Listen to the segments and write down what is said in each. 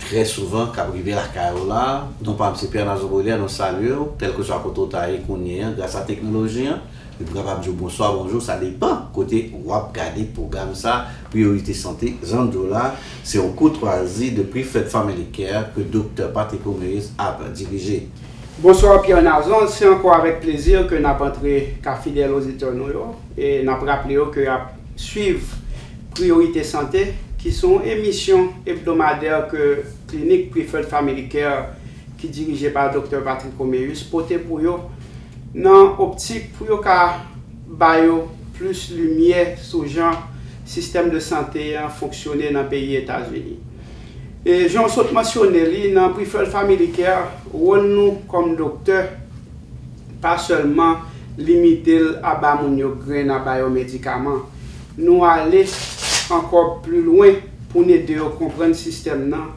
Trè souvan kap rive lakay ou la. Non pam se Pierre Nazon Bauhilaire, nou salyew, kelkeswa kote ou ta ye kounye an gras a teknoloji an, epi kapab diw bonswa, bonjou, sa depan kote wap gade pwogram sa, Priyorite Sante, Zandjou la, se yon koutwazi de Preferred Family Care ke Doktè Patrick Romeus ap dirije. Bonsoir Pierre Nazon, se ankò avèk plezi ke nap antre ka fidèl oditè nou yo, e nap raple yo ke ap. Swiv Priyorite Sante, ki se yon emisyon ebdomadè ke Klinik Preferred Family Care, ki dirije pa Doktè Patrick Roméus, pote pou yo, nan optik pou yo ka ba yo plis limyè sou jan sistèm de sante an fonksyone nan peyi Etazini. E jan w sot mansyone li, nan Preferred Family Care, wòl nou kòm doktè, Pa sèlman limite l a ba moun yo grenn a ba yo medikaman. Nou ale ankò pli lwen pou n ede yo konprann sistèm nan,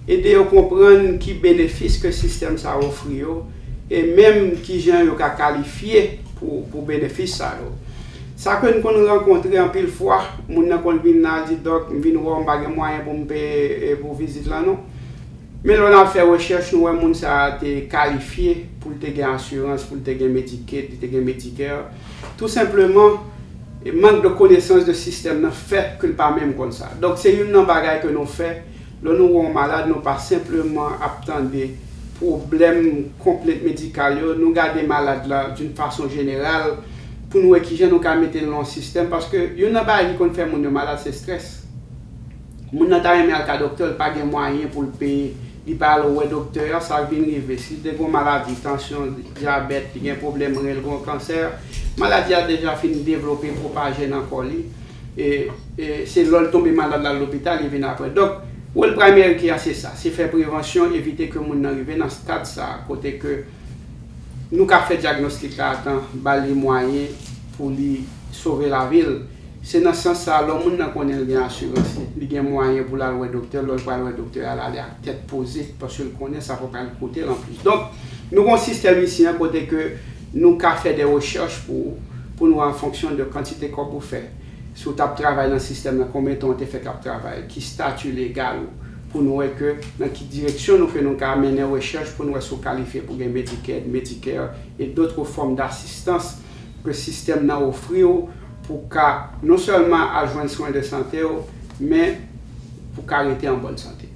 ede yo konprann ki benefis ke sistèm sa ofri yo, e menm kijan yo ka kalifye pou benefis sa yo. Sa ke n konn rankontre anpil fwa, moun nan konn vin la, l di, Dòk, m vin wè w, m pa gen mwayen pou m peye pou vizit lan non. Men lè w ap fè rechèch, nou wè moun sa a te kalifye pou l te gen asirans, pou l te gen Medicaid, li te gen Medicare. Tou senpleman, mank de konesans de sistèm nan fè ke l pa menm konn sa. Donk, se youn nan bagay ke nou fè, lè nou wè yon malad, nou pa senpleman ap tande pwoblèm, konplent medikal yo, nou gade malad la d'une façon générale pou nou wè kijan nou ka mete l nan yon sistèm, paske youn nan bagay ki konn fè moun yo malad se strès. Moun nan ta renmen al ka doktè l pa gen mwayen pou l peye li pa al wè doktè a sa k vin rive si l te gon maladi tansyon dyabèt li gen pwoblèm ren l gon kansè maladi a deja fin devlope pwopaje nan kò li e e se lò l tonbe malad l al lopital li vin aprè donk wol primary care se sa se fè prevansyon evite ke moun nan rive nan stad sa kote ke nou ka fè dyagnostik la a tan ba li mwayen pou li sove lavi l. Se nan sans sa a, lò moun nan konnen l gen asirans li, li gen mwayen pou l al wè doktè, lò l pral wè doktè a, l ale ak tèt poze, paske l konnen sa pa pral koute l anplis. Donk, nou gen yon sistèm isi an kote ke nou ka fè de rechèch pou ou, pou nou an fonksyon de kantite kòb ou fè, si w t ap travay nan sistèm nan, konbyen tan w te fè k ap travay, ki stati legal ou, pou nou wè ke nan ki direksyon nou ke nou ka mennen rechèch pou nou wè si w kalifye pou gen Medicaid, Medicare, et d'autres formes d'assistance. ke sistèm nan ofri w pou w ka non sèlman al jwenn swen de sante w, men pou w ka rete an bòn sante.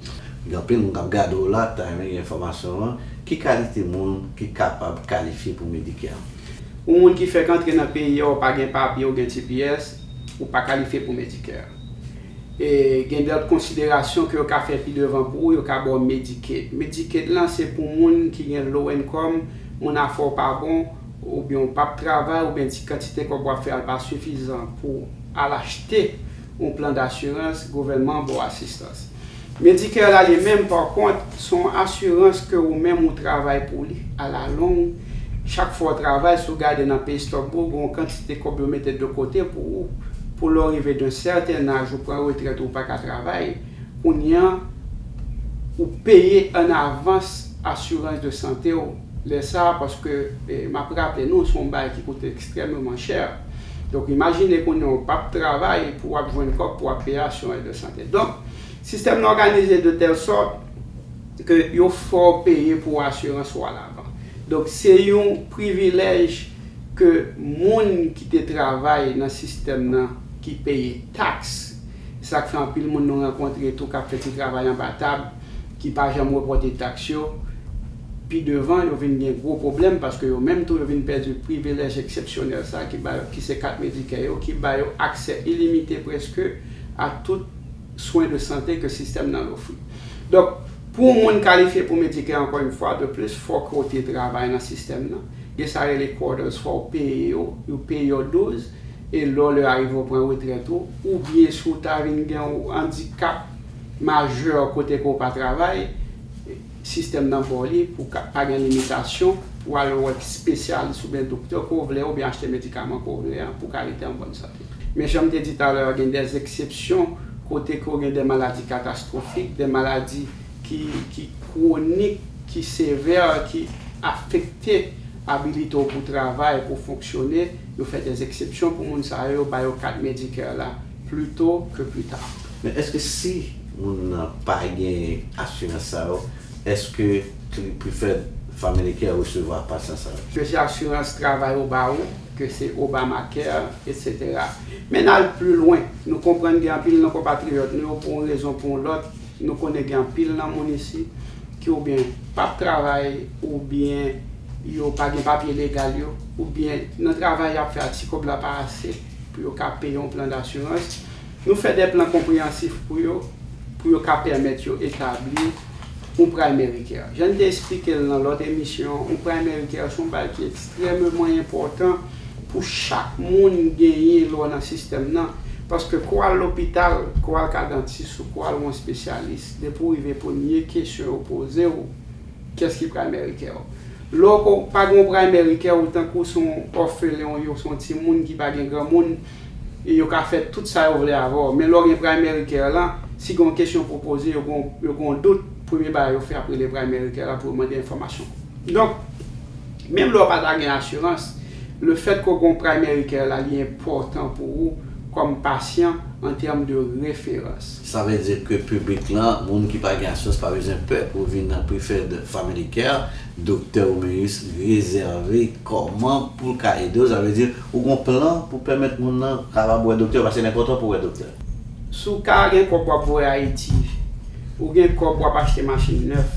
Gen anpil moun k ap gade w la, k ta renmen gen enfòmasyon an. Ki kalite moun ki kapab kalifye pou Medicare? Ou moun ki fèk antre nan peyi a, ou pa gen papye, ou gen tps, ou pa kalifye pou Medicare. E gen lòt konsiderasyon ke yo ka fè pi devan pou ou, yo ka ba w Medicaid. Medicaid lan se pou moun ki gen low income, moun afè w pa bon, oubyen ou pap travay oubyen ti kantite kòb wap fè a pa sifizan pou al achte yon plan dasirans, gouvènman an ba w asistans. Medicare la li menm pa kont se yon asirans ke ou menm ou travay pou li alalong, chak fwa w travay si w gade nan pay stub ou gen yon kantite kòb yo mete de kote pou ou pou lè w rive d'un certain âge ou pran retrèt ou paka travay kounye an ou peye an avans asirans de sante w. lè sa a paske m ap raple nou se yon bagay ki koute ekstrèmeman chè. Donk imajine kounye a ou p ap travay pou w ap jwenn kòb pou w ap peye asirans de sante. Donk sistèm nan òganize de tèl sòt ke yo fè w peye pou asirans ou a lavan. Donk se yon privilèj ke moun ki te travay nan sistèm nan ki peye taks. Se sa k fè anpil moun nou rankontre tou k ap fè ti travay anba tab ki pa janm repòte taks yo. Pi devan, yo vin gen gwo pwoblèm paske yo menm tou yo vin pèdi privilèj eksepsyonèl sa ki ba yo, ki se kat Medicare yo, ki ba yo aksè ilimite prèske a tout swen de sante ke sistèm nan ofri. Donk, pou yon moun kalifye pou Medicare ankò yon fwa de plis, fòk ou te travay nan sistèm nan. Gen sa rele quoters, fò ou peye yo, yo peye w 12, e lè w lè arive ou pran retrèt ou, oubyen si w ta vin gen yon andikap majè kote ke ou pa travay, Sistèm nan ba w li pou ka pa gen limitasyon pou al wè spesyalis oubyen doktè ke w vle oubyen achte medikaman ke w vle an pou w ka rete an bòn sante. Men jan m te di talè a gen dè eksepsyon kote ke w gen dè maladi katastwofik, dè maladi ki ki kwonik, ki sevè, ki afekte abilite w pou travay, pou w fonksyone, yo fè dè eksepsyon pou moun sa yo, yo ba yo kat Medicare la. Plus tôt que plus tard. Men eske si moun nan pa gen asirans sa yo eske li preferred family care resevwa pasyan sa yo? Ke se asirans travay ou ba ou, ke se Obamacare, etc. Men n al pli lwen, nou konprann gen anpil nan konpatriyòt nou yo pou yon rezon pou yon lòt, nou konnen gen anpil nan moun isit ki oubyen p ap travay oubyen yo pa gen papye legal yo oubyen nan travay y ap fè a ti kòb la pa ase. Pou yo ka peye yon plan dasirans, nou fè de plan konpreyansif pou yo, pou yo ka pèmèt yo etabli yon Primary Care. Jan n te esplike l nan lòt emisyon, yon Primary Care se yon bagay ki ekstrèmeman enpòtan pou chak moun genyen lè w nan sistèm nan, paske kou w al lopital, kou w al ka dantis ou kou w al wè yon espesyalis, depi w rive premye kesyon yo poze w, kiyès ki Primary Care w? Louco, pa gen yon primary care ou tankou se yon òfelen ou ye ou se yon timoun ki pa gen granmoun, yo ka fè tout sa yo vle avè w. Men lè w gen primary care lan, si gen yon kesyon pou w poze, yo gen yon, yo gen yon dout, premye bagay yo fè ap rele primary care a pou yo mande enfòmasyon. Donk, menm lè w pa ta gen asirans, le fèt ke w gen yon primary care la li enpòtan pou ou kòm pasyan an tèm de referans. Sa vle di ke piblik lan, moun ki pa gen asyans pa bezwen pè pou vin nan Preferred Family Care. Doktè ou men jis rezève kòman pou l ka ede w. Sa vle di ou gen yon plan pou pèmèt moun lan kapab wè doktè paske l enpòtan pou w wè doktè. Si w ka gen kòb w ap voye Ayiti, ou gen kòb w ap achte machin nèf,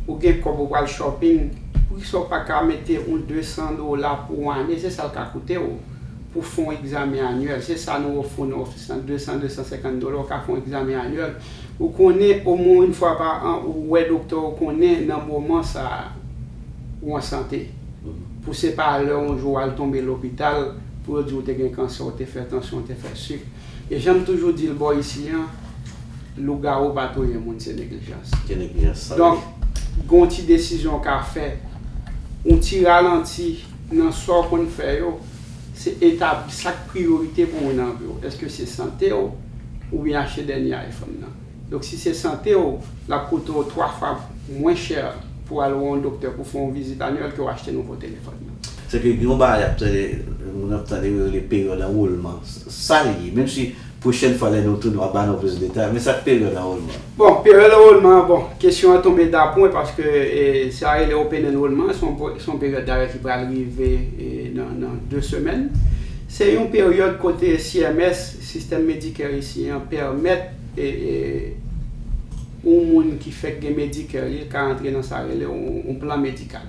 ou gen kòb ou pral shopping, poukisa w pa ka mete yon 200 dola pou yon ane se sa l ka koute w? pou fè yon egzamen anyèl. Se sa nou ofri w nan ofis lan, 200, 250 dola ou ka fè yon egzamen anyèl. Ou konnen omwen yon fwa pa an ou wè doktè ou konnen nan moman sa a ou an sante. Pou se pa lè yon jou w al tonbe lopital pou yo di ou te gen kansè, ou te fè tansyon, ou te fè sik. E jan m toujou di l bò isi an, lougawou pa touye moun, se neglijans. Se neglijans sante. Donk, gen yon ti desizyon ou ka fè, yon ti ralanti. Nan sa w konn fè yo, se etabli sa k priyorite pou ou nan vi w. Èske se sante w oubyen achte dènye iPhone nan? Donk si se sante w, l ap koute w twa fwa mwen chè pou w al wè yon doktè pou w fè yon vizit anyèl ke w achte nouvo telefòn nan. Sèke gen yon bagay y ap tande, moun ap tande yo rele peryòd anwolman. Sa l ye? Menmsi Pwochèn fwa lè nou tounen wap ba nou plis detay, men sak peryòd anwolman an? Bon, peryòd anwolman an, bon, kesyon an tonbe dapwen paske sa rele open anwolman an, se yon peryòd dayè ki pral rive nan 2 semèn. Se yon peryòd kote CMS, Sistèm Medicare Isyen an, pèmèt yon moun ki fèk gen Medicare li ka antre nan sa rele yon plan medikal.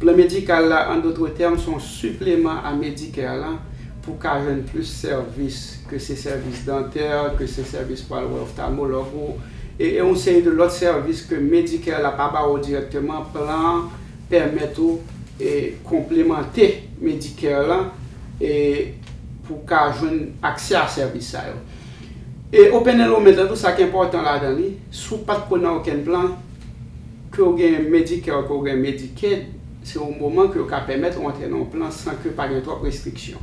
Plan Medikal la, an dotre tèm, son sipleman a Medicare lan pou w ka jwenn plis sèvis, ke se sèvis dantè, ke se sèvis pou al wè oftalmològ ou, e yon seri de lòt sèvis ke Medicare la pa ba ou dirèkteman, plan an pèmèt ou konplemante Medicare lan pou w ka jwenn aksè a sèvis sa yo. E Open Enrollment lan tou, sa ki enpòtan ladan li, si w pa t ko nan okenn plan, Ke w gen Medicare, ke w gen Medicaid, se yon moman ke yo ka pèmèt ou antre nan yon plan san ke pa gen twòp restriksyon.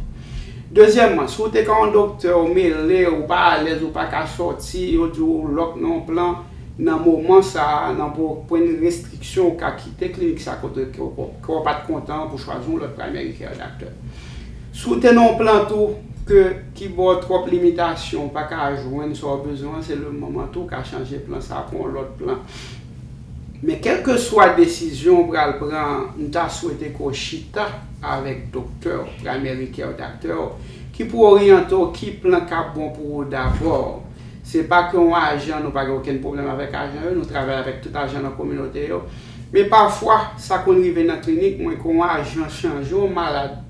Dezyèmman, si w te ka yon doktè, ou mele, ou pa alèz, ou pa ka sòti, yo di w ou lòk nan yon plan, nan moman sa a, nan pwen restriksyon, ou ka kite klinik sa kote ke w ke w pa t kontan an pou chwazi yon lòt Primary Care Doctor. Si w te nan yon plan tou ke ki ba w twòp limitasyon, ou pa ka jwenn sa w bezwen an, se le moman tou w ka chanje plan sa a pou yon lòt plan. Men kelkeswa desizyon ou pral pran an, m ta swete ke w chita avèk doktè w, primary care doctor, w ki pou oryante w ki plan k ap bon pou ou dabò. Se pa ke yon ajan, nou pa gen okenn pwoblèm avèk ajan yo, nou travay avèk tout ajan nan kominote yo. Men pafwa, sa konn rive nan klinik mwen ke yon ajan chanje yon malad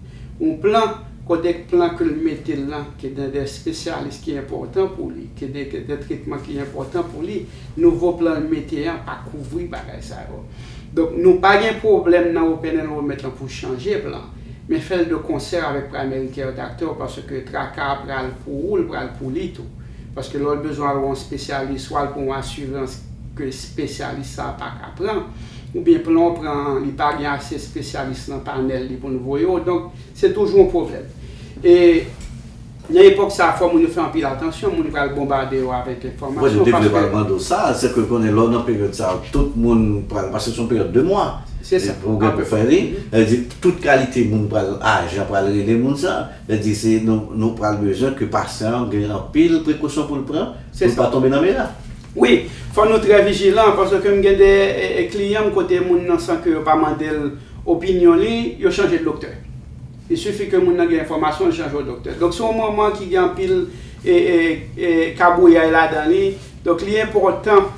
yon plan, kote ke plan ke l mete l lan, ke gen de spesyalis ki enpòtan pou li, ke gen de tretman ki enpòtan pou li. Nouvo plan l mete an pa kouvri bagay sa yo. Donk nou pa gen pwoblèm nan Open Enrollment lan pou chanje plan, men fè l de konsè avèk Primary Care Doctor w paske traka a pral pou ou l pral pou li tou. Paske lè w bezwen al wè yon spesyalis swa l pou yon asirans ke spesyalis sa a pa ka pran, oubyen plan w pran an li pa gen ase spesyalis nan panèl li pou l voye w, donk se toujou yon pwoblèm. E. Nan epòk sa a fò moun yo fè anpil atansyon, moun pral bonbade yo avèk enfòmasyon paske. Mwen te vle pral mande w sa, se ke konnen lè w nan peryòd sa a tout moun pral, paske se yon peryòd 2 mwa pou w gen pou fè li, sa vle di tout kalite moun pral, ajan pral rele moun sa, sa vle di se nou pral bezwen ke pasyan an gen anpil prekosyon pou l pran pou l pa tonbe nan mera. Wi, fò nou trè vijilan paske m gen de kliyan m kote moun nan san ke yo pa mande l opinyon li, yo chanje doktè. Li sifi ke moun nan gen enfòmasyon li chanje w doktè. Donk se yon moman ki gen anpil kabouyay ladan li. Donk li enpòtan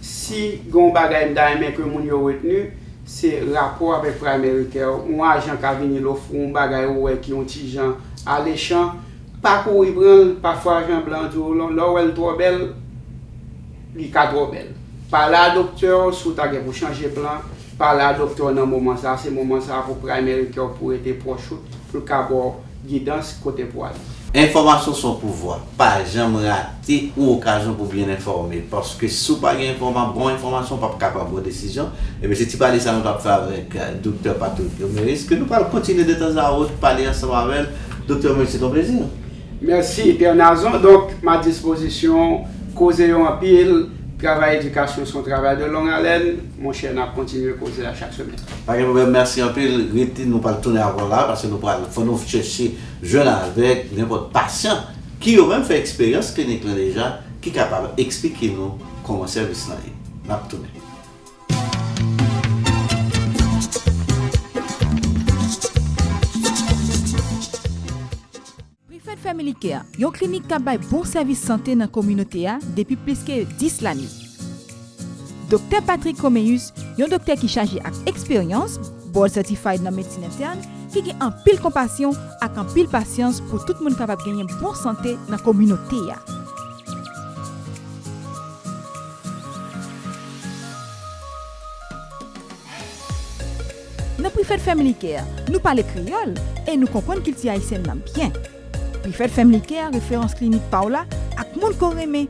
si gen yon bagay m ta renmen ke moun yo retni, se rapò avèk primary care w. Yon ajan ka vini l ofri w yon bagay ou wè ki yon ti jan alechan, pa kouri pran l. Pafwa ajan blan an di w lè w wè l twò bèl, li ka twò bèl. Pale a doktè w si w ta gen pou chanje plan. Pale a doktè w nan moman sa a, se moman sa a pou primary care w pou rete pwòch ou, pou l ka ba w gidans kote pou ale. Enfòmasyon son pouvwa, pa janm rate yon okazyon pou byen enfòme, paske si w pa gen enfòma bon enfòmasyon w pap ka pran bon desizyon, ebyen se ti pale sa nou tap fè avèk Doktè Patrick Romeris ke nou pral kontinye de tan a autre pale ansanm avèl, Doktè Romeris se ton plezi. Mèsi Pè Nazon, donk m a dispozisyon w, koze yo anpil, travay edikasyon son travay de long alèn, Monchè nap kontinye koze a chak semèn. Pa gen pwoblèm mèsi anpil rete nou pral tounen avèw la pase nou pral fò nou chèche jwenn avèk nenpòt pasyan ki yo menm fè eksperyans klinik lan deja ki kapab eksplike nou kòman sèvis lan ye nap tounen. Preferred Family Care, yon klinik k ap bay bon sèvis sante nan kominote a depi plis ke 10 lane. Doktè Patrick Comméus, yon doktè ki chaje ak eksperyans, Board Certified nan medsin entèn, ki gen anpil konpasyon ak anpil pasyans pou tout moun kapab genyen bon sante nan kominote a. Nan Prefèt Family Care, nou pale kreyòl e nou konprann kilti ayisyèn nan byen. Prefèt Family Care referans klinik pa w la ak moun ke w renmen.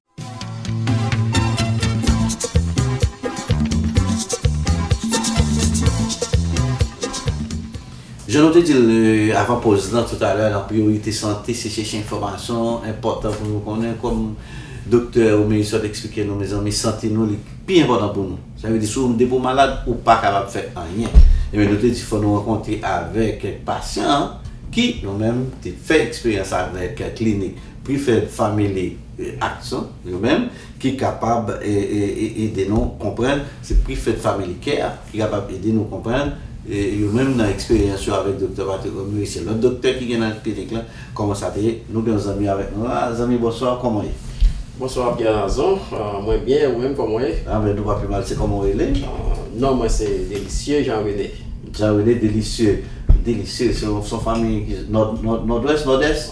Jan nou te di l avan poz lan toutalè nan priyorite sante se chèche enfòmasyon, enpòtan pou nou konnen kòm doktè Omeyi sot eksplike nou mezanmi sante nou li pi enpòtan pou nou sa vle di sou depi w malad ou pa kapab fè anyen ebyen nou te di fò nou rankontre avèk kèk pasyan ki yo menm te fè eksperyans avèk klinik Preferred Family Action yo menm ki kapab ede nou konprann, se Preferred Family Care ki kapab ede nou konprann yo menm nan eksperyans yo avèk Doktè Patrick Omery se lòt doktè ki gen nan klinik lan kòman sa te ye. Nou gen yon zanmi avèk nou la. Zanmi bonswa, kòman w ye? Bonswa Pierre Nazon, mwen byen, ou menm kòman w ye? Anben nou pa pi mal, se kòman w rele? Non mwen se Delicieux Jean René. Jan rele delisye delisye se yon fami nòdwès nòdès?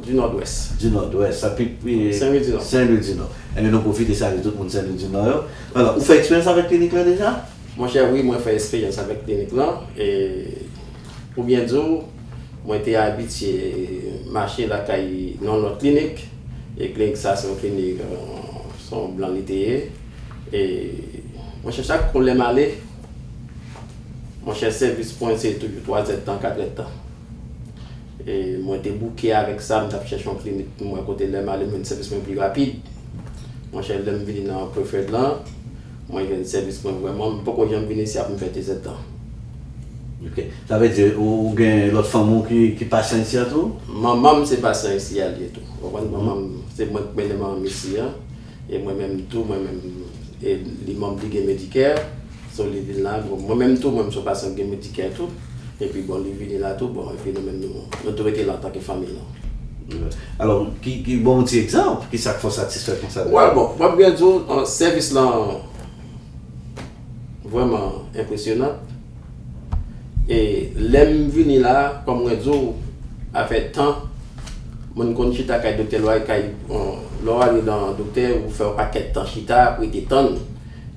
Di nòdwès. Di nòdwès sa pi Sen Lwi di Nò. Sen Lwi di Nò. Enben nou pwofite salye tout moun Sen Lwi di Nò yo. Alò ou fè eksperyans avèk klinik lan deja? Monchè wi mwen fè eksperyans avèk klinik lan e pou byen di w mwen te abitye mache lakay yon lòt klinik e klinik sa se yon klinik se yon blan li te ye e monchè chak kou lè m ale Monchè sèvis pwen se toujou 3 zèd tan 4 zèd tan e mwen te bouke avèk sa m tap chèche yon klinik pou mwen kote lèm ale m jwenn sèvis mwen pi rapid monchè lèm vini nan preferred lan mwen jwenn sèvis mwen vrèman m poko janm vini isi ap m fè 2 zèd tan. Ok sa vle di ou gen lòt fanmi w ki pasyan isi an tou? Manman m se pasyan isi a li ye tou ou konprann manman m se mwen k mennen manman m isi an. E mwen menm tou mwen menm e li manm li gen medicare so li vin la bon mwen menm tou mwen menm son pasyan ki gen medicare tou epi bon li vini la tou bon epi nou menm nou nou tou rete la antanke fanmiy lan. Alò ki ki ban yon ti egzanp ki sa k fè w satisfè konsa de. Wè bon mwen ap gen di w sèvis lan. Vrèman enpresyonant e lèm vini la kòm mwen diw afè tan moun konn chita kay doktè lwa kay lèw ale nan doktè ou fè yon pakèt tan chita ap rete tann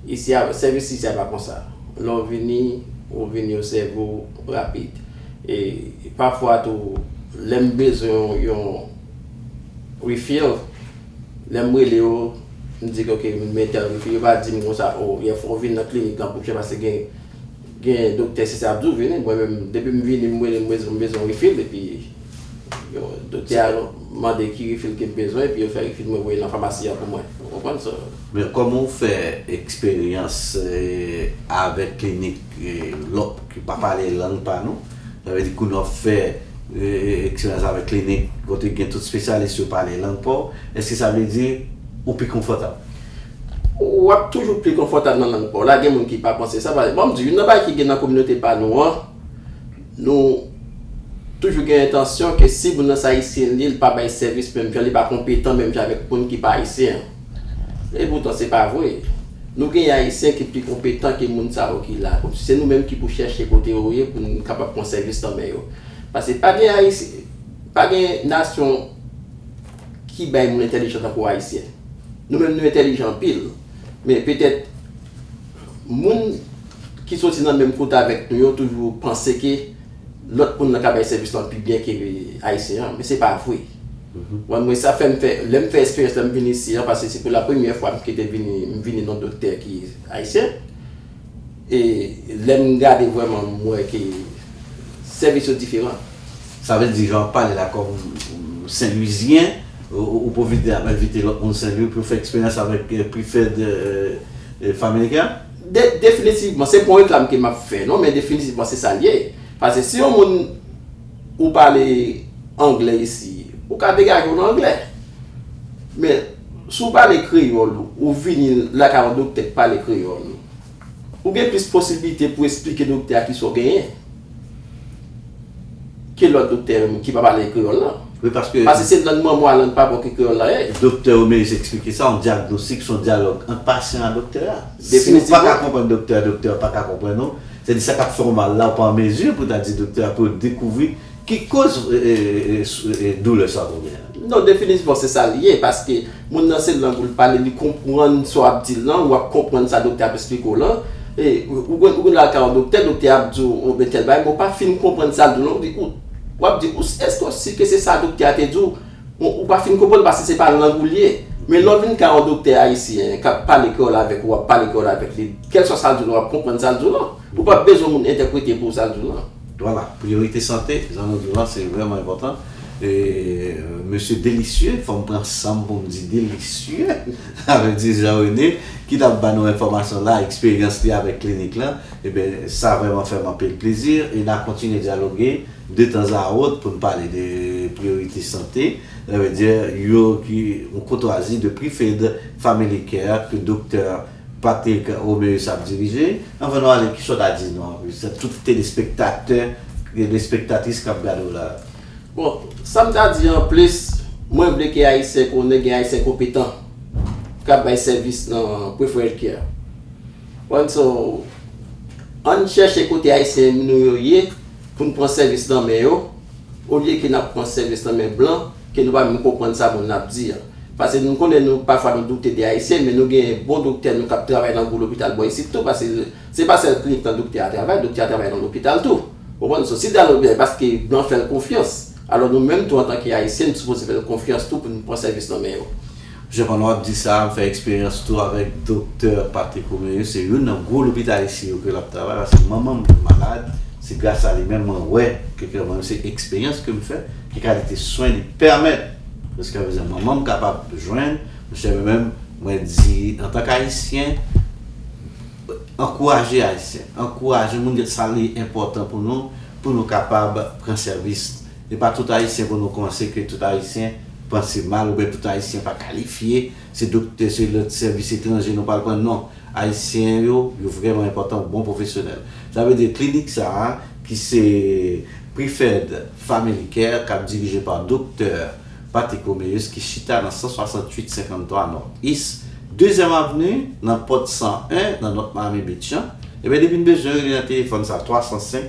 isi a sèvis isi a pa konsa lèw vini ou vini yo sèviw rapid e pafwa tou lèm bezwen yon refill. Lè m rele yo, m di ke ok m byen tèrifye, yo pa di m konsa o yè fò w vin nan klinik lan pou chè paske gen gen doktè si sa ap di w vini, mwen menm depi m vini m rele m bezwen m bezwen refill epi yo doktè a mande ki refill ke m bezwen epi yo fè refill mwen voye nan famasi an pou mwen ou konprann so. Men kòman w fè eksperyans avèk klinik lòt ki pa pale lang pa nou? Sa vle di koulye w ap fè eksperyans avèk klinik kote gen tout spesyalis yo pale lang pa w, èske sa vle di ou pi konfòtab? W ap toujou pi konfòtab nan lang pa w la. Gen moun ki pa panse sa. Ban m di w, youn nan bagay ki gen nan kominote pa nou an, nou toujou gen entansyon ke si moun nan se Ayisyen li, li pa bay sèvis menm jan, li pa konpetan menm jan avèk moun ki pa Ayisyen an. E poutan se pa vre. Nou gen Ayisyen ki pi konpetan ke moun sa yo ki la. Se nou menm ki pou chèche kote yo ye pou n kapab pran sèvis nan men yo. Pase pa gen Ayisyen, pa gen nasyon ki bay moun entèlijan tankou Ayisyen. Nou menm nou entèlijan anpil, men petèt moun ki soti nan menm kote avèk nou yo toujou panse ke lòt moun nan ka bay sèvis lan pi byen ke Ayisyen an, men se pa vre. Mwen mwen sa fè m fè, lè m fè esperyans lè m vini isi an, pase se pou la premyè fwa m kite vini, m vini nan doktè ki Ayisyen, e lè m gade vrèman m wè ke sèvis yo diferan. Sa vle di jan w pale la kòm Senlwizyen, ou pwofite ap envite lòt moun Senlwi pou yo fè eksperyans avèk Preferred Family Care? Definitivman, se pa yon reklam ke map fè non, men definitivman se sal ye. Pase si yon moun ou pale anglè isi, ou ka degaje w nan anglè. Men, si w pale kreyòl, ou vini lakay yon doktè ki pale kreyòl, ou gen plis posiblite pou esplike doktè a kisa w genyen. Ki lòt doktè ki pa pale kreyòl lan? Wi paske. Pase se lang manman w a lang papa w ki kreyòl la ye. Doktè yo merite eksplike sa, yon dyagnostik se yon dyalòg ant pasyan a doktè a. Si ou pa ka konprann doktè a, doktè a pa ka konprann ou, se di sa k ap fè w mal la ou pa an mezi pou w ta di doktè a pou yo dekouvri ki koz doulè sa w konn genyen. Non definitivman se sa li ye paske moun nan se lang ou l pale li konprann sa w ap di l lan ou ap konprann sa doktè ap esplike w lan e ou konn ou konn al ka yon doktè doktè a ap di w bon tèl bagay men ou pa fin konprann sa l di w lan ou di ou w ap di ou èske w si ke se sa doktè a te di w bon ou pa fin konprann paske se pa lang ou l ye men lè w vin ka yon doktè ayisyen k ap pale kreyòl avèk ou w ap pale kreyòl avèk li kèlswa sa l di w lan w ap konprann sa l di w lan ou p ap bezwen moun entèprete pou w sa l di w lan. Vwala, priyorite sante jan nou diw la se vrèman enpòtan e mesye Delicieux fòm pran sanm poum di Delicieux sa vle di Jean René ki tap ba nou enfòmasyon la eksperyans li avèk klinik lan ebyen sa vrèman fèm anpil plezi e na kontinye dyaloge de tan a ot poun pale de priyorite sante sa vle di yo ki yon koutwazi de Prifed Family Care ke Doktè Patrick Roméus ap dirije. Anvan nou ale kisa w ta di nou anplis a tout telespektatè telespektatris kap gade w la a? Bon, sa m ta di anplis, mwen vle ke Ayisyen konnen gen Ayisyen konpetan kap bay sèvis nan Preferred-Care a. Konn so, ann chèche kote Ayisyen nou yo ye pou n pran sèvis nan men yo olye ke nap pran sèvis nan men blan ke nou pa menm konprann sa moun nan ap di an. Pase nou konnen nou pafwa nou doute de Ayisyen men nou genyen bon doktè nou kap travay nan gwo lopital bò isit tou pase se pa sèl klinik lan doktè a travay, doktè a travay nan lopital tou ou konprann so si Dalot byen paske blan fèl konfyans alò nou menm tou antanke Ayisyen nou sipoze fèl konfyans tou poun pran sèvis nan men yo. Jean pandan wap di sa, m fè eksperyans tou avèk doktè Patrick Roméus, se youn nan gwo lopital isi yo ke lap travay paske manman m te malad, se gras a li menm mwen wè ke kè mwen, se eksperyans ke m fè, ki kalite swen li pèmèt jiskaprezan manman m kapab jwenn, monchè mwen menm mwen di antank ayisyen, ankouraje ayisyen, ankouraje moun, sa li enpòtan pou nou, pou nou kapab pran sèvis. E pa tout ayisyen pou nou konse ke tout ayisyen panse mal oubyen tout ayisyen pa kalifye, se doktè, se lòt sèvis etranje nou pral pran non. Ayisyen yo, yo vrèman enpòtan, bon pwofesyonèl. Sa vle di klinik sa a ki se Preferred Family Care kap dirije pa doktè Patrick Roméus ki chita nan 168 53 North East Dezyèm Avni nan pòt 101 nan North Miami Beach an, ebyen depi n bezwen rele nan telefòn sa 305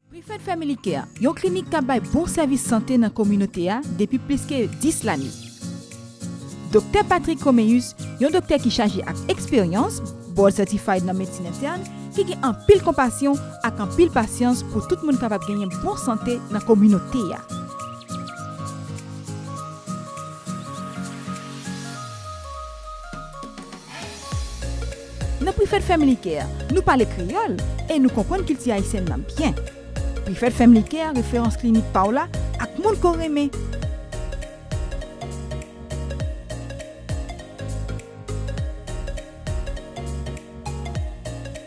Preferred Family Care, yon klinik k ap bay bon sèvis sante nan kominote a depi plis ke 10 lane. Doktè Patrick Comméus, yon doktè ki chaje ak eksperyans, Board Certified nan medsin entèn, ki gen anpil konpasyon ak anpil pasyans pou tout moun kapab genyen bon sante nan kominote a. Nan Prefèt Family Care, nou pale kreyòl e nou konprann kilti ayisyèn nan byen. Prefèt Family Care referans klinik pa w la ak moun ke w renmen.